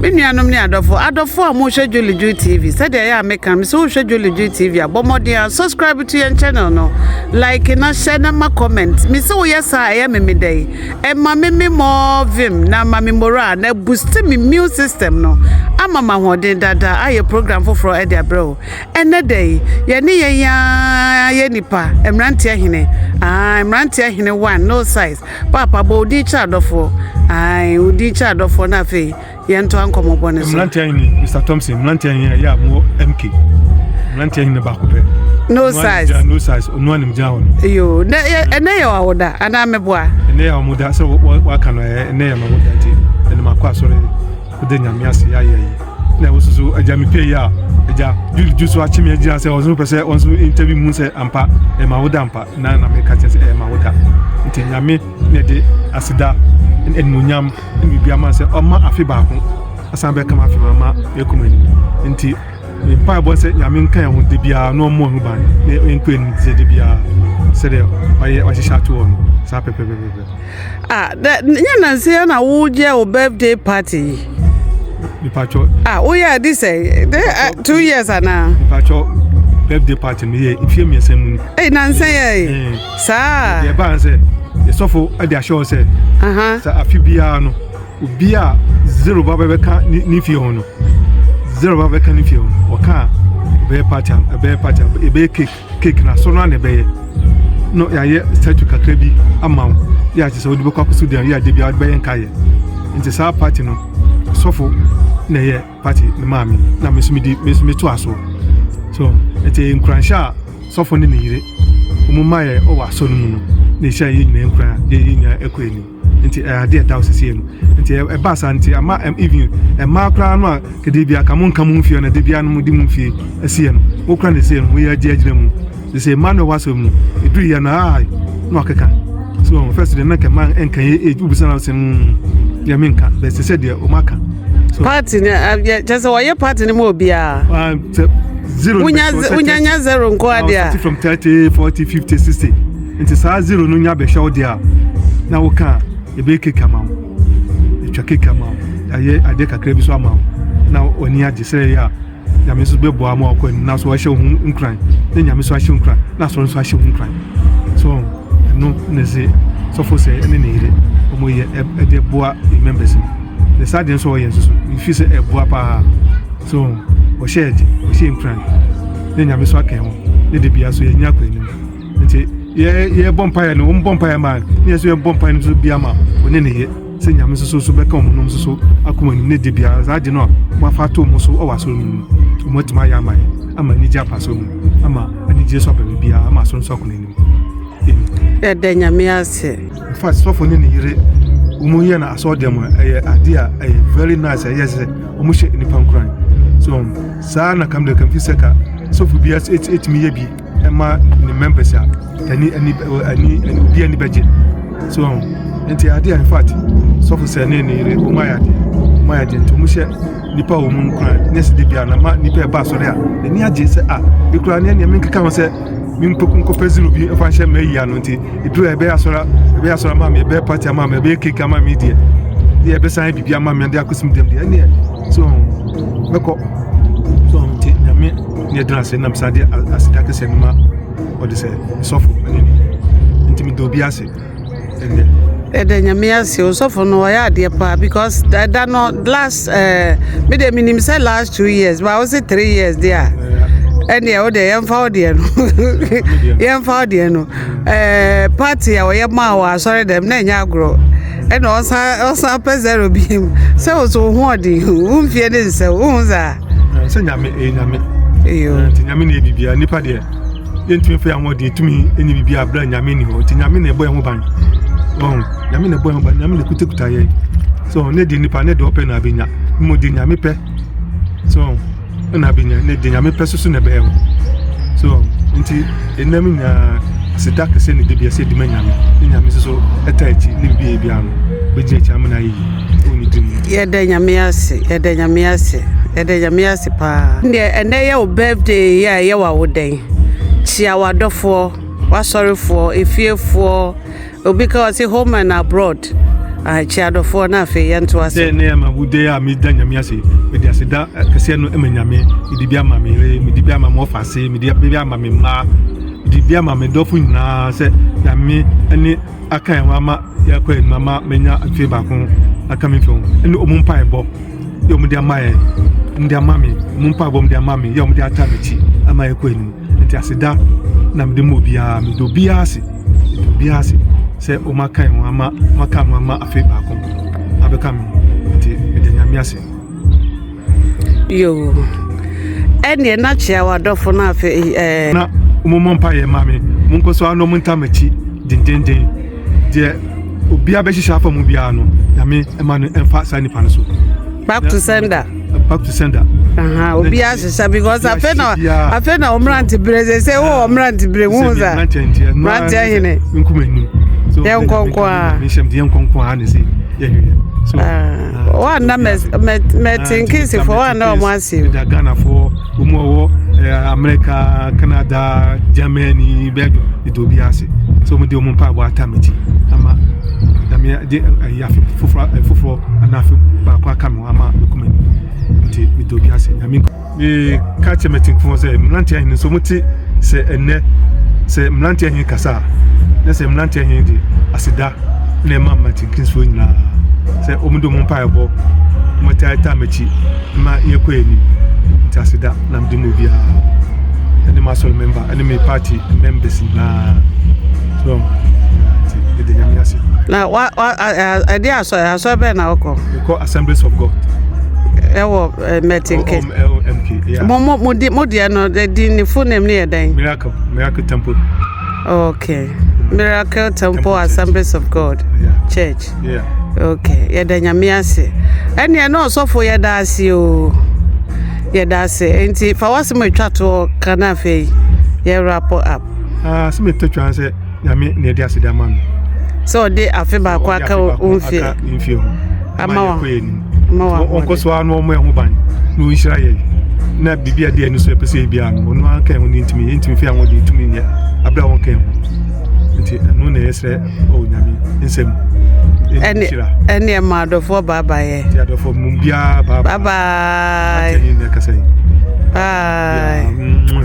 Me nuanom ne adɔfo, adɔfo a mohwɛ Jolly Joe TV, sɛdeɛ ɛyɛ a meka no, sɛ wohwɛ Jolly Joe TV a, bɔ mmɔden a subscribe to yɛn channel no, like na hyɛ na ma comment. Me sɛ woyɛ saa ɛyɛ me me dɛn? Ɛma me me more vim na ama me morale na boost me immune system no ama ma ahoɔden dada ayɛ program foforɔ ɛde abrɛ wo. Ɛnɛ da yi, yɛne yɛn yaa yɛ nipa, mmeranteɛ hene, ah, mmeranteɛ hene one, no size. Paapa, bɔ wo din kyerɛ adɔfoɔ. Ae, wo din kyerɛ adɔfoɔ na afei yɛntoa nkɔmmɔbɔ no so. Mmeranteɛ he ne Mister Thompson, mmeranteɛ he a ɛyɛ a mowɔ MK. Mmeranteɛ he ne baako pɛ. No Ɔno ara ne size. gyina- No size, ɔno ara ne gyina hɔ no. Yo, na yɛ- ɛnɛ yɛ awoda anaa meboa? Ɛnɛ yɛ a wɔda sɛ wɔ- wɔ- wɔaka no ɛɛ, ɛnɛ yɛ ma wɔda nti ɛnɛ makɔ asɔre Wode Nyame ase yɛayɛ yi na ɛwo soso agya mepie yi a agya Jude ju so akye me agyina sɛ ɔnso pɛ sɛ ɔnso interview mu sɛ ampa ɛma woda ampa na na meka kyerɛ sɛ ɛma woda nti Nyame na ɛde aseda animonyam ne biribi ama sɛ ɔma afe baako asan bɛka ma afe ma ama ɛkuma anim nti mpa ɛbɔ sɛ Nyame nka ɛho de biara na ɔmmɔ ho ban na ɛnkɔ anim sɛ de biara sɛdeɛ wayɛ wahyehyɛ ato hɔ no saa pɛpɛpɛpɛpɛ Ah, dɛ nyɛ nansi yɛ na woyɛ wo birthday party yi. Mipatwɔ. Ah, woyɛ adi sɛ dɛ ah, two years ana? Mipatwɔ birthday party mi yɛ nfiɛ mmiɛnsa mu ni. Ɛyi nansa yɛ yi. Eh. Saa. Yɛ baa sɛ yɛsɔfo ɛde ahyɛ hɔ sɛ. Sɛ afi biara no obi a zero ba bɛbɛka ne ne fie ho no zero ba bɛka ne fie ho ɔka a ɛbɛyɛ party ɛbɛyɛ party ɛbɛyɛ cake. cake na so no na ɛbɛyɛ na yɛayɛ statue kakra bi ama wo yɛ akyɛ sɛ wode bɛkɔ akɔso deɛ yɛ adeɛ bia wode bɛyɛ nkaeɛ nti saa party no sɔfo na ɛyɛ party no maa me na me nso medi me nso meto asoɔ so ɛte nkuranhyɛ a sɔfo ne ne yere wɔn mmaeɛ wɔ asɔ no mu no na ɛhyɛ yɛ nyinaa nkura yɛ yɛ nyinaa ɛkɔ anim Nti ɛyɛ adeɛ ɛda hɔ sɛsɛ no nti ɛba saa nti ama even ɛmaa koraa no a kɛdeɛ bi aka mo nka mo mfie na de bia no mo de mo mfie ɛseɛ no mo kora ne seɛ no mo yɛ agye agyina mu de sɛ ɛma no ɛwɔ asɛm no ɛduru yɛ no a na wakeka so wɔn fɛs deɛ na kɛma nka yɛ ɛgye wobisa na sɛm deɛ menka bɛ sɛ sɛ deɛ wɔn aka party no kyɛ sɛ wɔyɛ party no ma obiara ah, zero wonya nya zero nko adeɛ a from 30 40 50 60 Ntsi saa zero no nya bɛhwɛ wo de a na wo ka a yɛbɛyɛ cake ama wo yɛtwa cake ama wo yɛayɛ adeɛ kakra bi so ama wo na w'ani agye sɛ yɛ a nyame nso bɛboa ma wakɔ anim na so wahyɛ wo ho nkuran na nyame nso ahyɛ nkuran na asɔre nso ahyɛ wo nkuran so ɛno ne se sɔfo sɛ ɛne ne yere ɔmo yɛ ɛde boa members no ne saa deɛ nso ɔyɛ nso so mefi sɛ ɛboa paa so ɔhyɛ ɛde ɔhyɛ nkuran ne nyame nso akɛn ho ne de bia so yɛnya akɔ anim nti yɛ yɛbɔ mpaeɛ no wɔn bɔ mpaeɛ ma ne yɛ nso yɛbɔ mpaeɛ no nso bi ama wɔne ne yɛ sɛ nyame nso so bɛka wɔn nom nso so akɔ wɔn anim ne de biara saa de no a wɔafa ato wɔn so wɔ asɔre no mu wɔn atumi ayɛ ama yɛ ama anigye afa so mu ama anigye so aba biara ama asɔre nso akɔ n'anim yɛda nyame ase fa sɔfo ne ne yere wɔn yɛ no asɔre dɛm ɛyɛ adeɛ a ɛyɛ very nice ɛyɛ sɛ wɔn hyɛ nipa nkuran so saa na kam de kam fi sɛ ka sɔfo bi ɛtumi yɛ bi ɛma ne mmɛmpɛsɛ a ɛne ɛne ɛne ɛne obi ani bɛgye so ɔn nti adeɛ a infact sɔfo sɛ ne ne yere wɔn ayɛ adeɛ wɔn ayɛ adeɛ nti wɔn hyɛ nipa a wɔn nkura ne sɛ de bia na ma nipa ɛba asɔre a n'ani agye sɛ a ekura ne nneɛma nkeka ho sɛ me nkpɔku nkɔpɛ zero bi ɛfa nhyɛ mɛ yia no nti eduru a ɛbɛyɛ asɔre ɛbɛyɛ asɔre ama mi ɛbɛyɛ party ama mi ɛbɛyɛ cake ama mi deɛ deɛ ɛbɛsan bibi ama mi ɛde akɔsim dɛm deɛ ɛneɛ so mɛkɔ so nti nyame. ne yɛgyina ase nam saa de aseda kɛseɛ no ma ɔde sɛ sɔfo ne ne nti meda obi ase ɛnɛ ɛda nyame ase osɔfo no ɔyɛ adeɛ paa because ɛda no last eh, me deɛ menim sɛ last two years ba wo se three years deɛ a ɛneɛ wo deɛ yɛmfa wo deɛ no yɛmfa wo deɛ no eh, party a ɔyɛ maa wɔ asɔre dɛm na ɛnyɛ agorɔ ɛna ɔsan ɔsan pɛ zero bi mu sɛ wo so wo ho ɔden wo mfie ne nsɛ wo ho saa Eh, sɛ nyame ɛyɛ eh, nyame eh, nti nyame na ɛbibia nnipa deɛ yɛntumi fɛ ahoɔ deɛ ɛtumi ɛnyɛ bibia berɛ nyame ni hɔ nti nyame na ɛbɔ ɛho ban nyame na ɛbɔ ɛho ban nyame na ɛkutakuta yɛ so ne deɛ nnipa ne deɛ ɔpɛ na abɛnya mmɔ deɛ nyame pɛ so ɛna abɛnya ne deɛ nyame pɛ soso na ɛbɛyɛ ho so nti ɛnam nyinaa sida kɛsɛ ne debiasɛ ɛdima nyame ne nyame soso ɛta akyi ne bibia bia no bɛgyina akyi amena yɛyi Yɛda Nyame ase, yɛda Nyame ase, yɛda Nyame ase paa. Deɛ ɛnɛ yɛ wo birthday yi a ɛyɛ w'awodɛn. Kyia w'adɔfoɔ, w'asɔrefoɔ, efiefoɔ, obi ka ɔse home and abroad. Ah, kyia adɔfoɔ na afei yɛnto ase. Sɛ ɛnɛ yɛ m'awodɛn a meda Nyame ase. Mede aseda kɛseɛ no ma Nyame. Mede bi ama me yere, mede bi ama m'ɔfa ase, mede bi ama me mma, mede bi ama me dɔfo nyinaa sɛ Nyame ne aka yɛn ho ama yɛakɔ anim ama manya mfe baako aka me mfe ho ne ɔmo mpaebɔ yɛ ɔmo de ama yɛn ɔmo de ama me ɔmo mpaebɔ ɔmo de ama me yɛ ɔmo de ata m'akyi ama yɛkɔ anim nti aseda na mede ma obiara mede obiara ase mede obiara ase sɛ ɔmo aka yɛn ho ama ɔmo aka ho ama afe baako abɛka me nti mede nyame ase Yoo, ɛnneɛ na kyea w'adɔfo no afei ɛɛ. Na mommɔ mpaeɛ mma me, monkɔ so ara na monta m'akyi dendeenden. Deɛ obiara bɛhyehyɛ afa mu biara no, Nyame mma no mfa saa nipa no so. Back to sender. Back to sender. Obiara hyehyɛ because afei na afei na ɔmmerante bere sɛ sɛ wɔ ɔmmerante bere hu sa. Mmerante hene. Nkuma nim. Yɛn nkɔnkɔ a. Yɛn nkɔnkɔ a ne se yɛhwɛ. So. Wa na mɛ mɛ mɛ tinkisi fɔ wa na ɔmo ase. Ɛda Ghanafoɔ ɔmo a ɔwɔ ɛɛ Amerika, Canada, Germany, Belgium ɛda obi ase sɛ ɔmo de ɔmo mpaebɔ ata me ti ama nyame de ɛyɛ afe foforɔ foforɔ anaa afe baako aka me ho ama mekɔ m'anim nti meda obi ase nyame. meka kyerɛ m'atimfoɔ sɛ mmeranteɛ ahene nso mote sɛ ɛnnɛ sɛ mmeranteɛ ahene kasa a na sɛ mmeranteɛ ahene de aseda na ɛma mmatenkinsifoɔ nyinaa sɛ wɔde wɔn mpaebɔ wɔtaataa m'akyi ma yɛkɔ anim nti aseda na mede ma obiara ɛne m'asɔre member ɛne me party members nyinaa so nti ɛde nyame ase na ɛde asɔre asɔre bɛn na wokɔ mekɔ assemblies of god ɛwɔ eh, Merton K. OMLMK, yeah. Mo mo mo di mo deɛ no the din ne full name ne yɛ dɛn? Miracle, Miracle Temple. Okay. Mm. Miracle Temple Assemblies of God yeah. Church. Yeah. Okay. Yɛda nyame ase. Ɛnneɛ na ɔsɔfo yɛda ase o. Yɛda ase. Nti fa wasɛm atwa toɔ ka no afei yɛ wrap up. Ah, sɛ metwa twa sɛ Nyame na ɛde aseda ama no. Sɛ ɔde afe baako aka wo mfie. Aka mfie ho. Ama wa. Kɔ yɛ nim. Ama wa. Ɔnkɔ so ano ɔmo ɛho ban. Na ɔnhyira yɛ. Na bibi a deɛ no so ɛpɛ sɛ ebi ano. Ɔno anka ɛho ne ntumi. Ntumi fi ahoɔden ntumi nyɛ. Abira wɔn ka ɛho. Nti ɛno na ɛsrɛ ɔwɔ nyame nsɛm. Ɛne ɛne ɛma adɔfoɔ baaba yɛ. Ti adɔfoɔ mu biara baaba. Baaba. Ati ɛni na ɛkasa yi. Bye. Yeah.